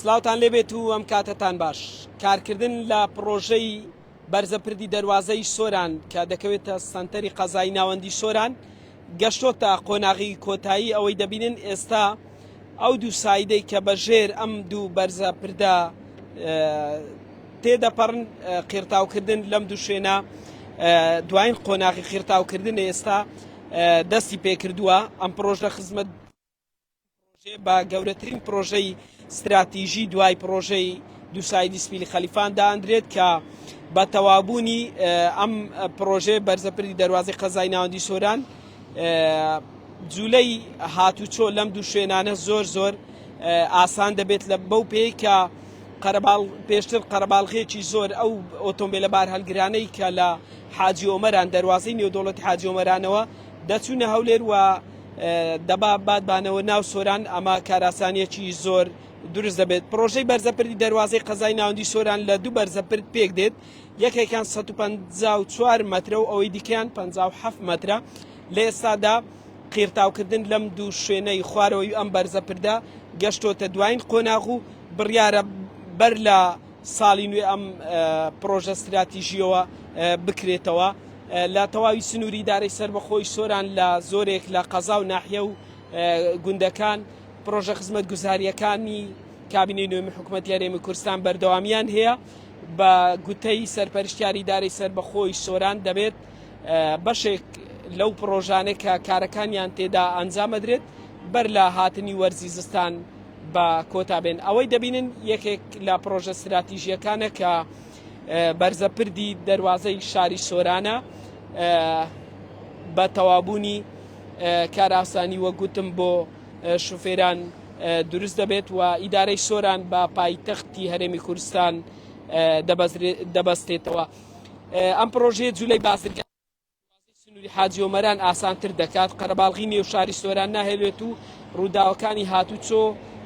سلاوتان لێبێت و ئەم کاتەتان باش کارکردن لە پڕۆژەی بەرزە پردی دەواازەی سۆران کە دەکەوێتە سنتەری قەزای ناوەندی سۆران گەشتۆتە قۆناغی کۆتایی ئەوەی دەبینن ئێستا ئەو دوو سایدەی کە بەژێر ئەم دوو بەرزە پردە تێدەپەڕن قیرتاوکردن لەم دوو شوێنە دوایین قۆناغی قیرتاوکردن ئێستا دەستی پێکردووە ئەم پرۆژە خزمەت پڕۆژەیە بە گەورەترین پڕۆژەی ستراتیژی دوای پڕۆژەی دووسایدی سپیلی خەلیفان دادرێت کە بە تەوابوونی ئەم پڕۆژەیە بەرزەپری دەواازی قەزای ناوەندی سۆران جوولەی هاتوچۆ لەم دوو شوێنانە زۆر زۆر ئاسان دەبێت لە بەو پێی کە قەرەباڵ پێشتر قەرەباڵغێکی زۆر ئەو ئۆتۆمبیلە بار هەلگرانەی کە لە حاجی ئۆمەران دەواازەی نێودوڵەت حاجۆمەرانەوە دەچوونە هەولێر و دەبا بادبانەوە ناو سۆران ئەمە کاراسانیەکی زۆر دروست دەبێت پرۆژەی بەرزەپردی دەواازەی قەزای ناوەندی سۆران لە دوو بەرزەپرد پێک دێت یەکێکان 154 مترە و ئەوەی دیکەیان 57 مترە لە ئێستادا قیرتاوکردن لەم دوو شوێنەی خوارەوەی ئەم بەرزەپردە گەشتۆتە دوایین قۆناغ و بڕیارە بەر لە ساڵی نوێ ئەم پڕۆژە ستراتیژیەوە بکرێتەوە لە تەواوی سنووری دارەی سربەخۆی سۆران لە زۆرێک لە قەزا و ناحیە و گوندەکان پرۆژە خزمەت گوزاریەکانی کابینی نوێمی حکوومەت یارێمی کوردستان بەردەوامیان هەیە بە گوتەی سەرپەرشتیاری دارەی سەر بەخۆی سۆران دەبێت بەشێک لەو پرۆژانێک کە کارەکانیان تێدا ئەنجامەدرێت بەر لە هاتنی وەرزی زستان بە کۆتا بێن ئەوەی دەبینن یەکێک لە پرۆژە ستراتیژیەکانە کە بەرزە پردی دەواازەی شاری سۆرانە بە تەوابوونی کاراسانی وەگوتم بۆ شوفێران دروست دەبێت و ئیدارەی سۆران بە پایتەختی هەرێمی کوردستان دەبەستێتەوە ئەم پرۆژەیە جوولەی بازرگان سنوری حاجی ئۆمەران ئاسانتر دەکات قەرەباڵغی نێو شاری سۆران ناهێلێت و ڕووداوەکانی هاتوچۆ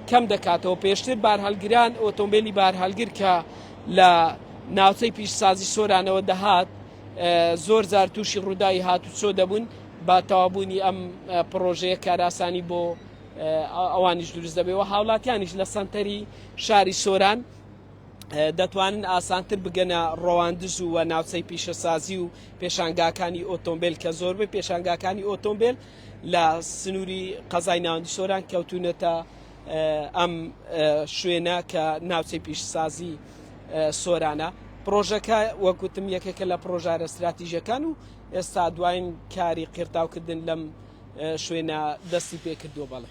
کەم دەکاتەوە پێشتر بارهەلگران ئۆتۆمبیلی بارهەلگر کە لە ناوچەی پیشسازی سۆرانەوە دەهات زۆر جار تووشی ڕووداوی هاتوچۆ دەبوون بە تەوابوونی ئەم پرۆژەیە کاراسانی بۆ ئەوانیش دروست دەبێەوە هاوڵاتیانیش لە سنتەری شاری سۆران دەتوانن ئاسانتر بگەنە ڕەواندز و ناوچەی پیشەسازی و پێشانگاکانی ئۆتۆمبیل کە زۆربەی پێشانگاکانی ئۆتۆمبیل لە سنووری قەزای ناوەندی سۆران کەوتونەتە ئەم شوێنە کە ناوچەی پیشسازی سۆرانە پرۆژەکە وەکوتم یەکێکە لە پرۆژارە استراتیژەکان و ئێستا دواین کاری قیرتاوکردن لەم شوێنە دەستی پێکردووە بەڵێ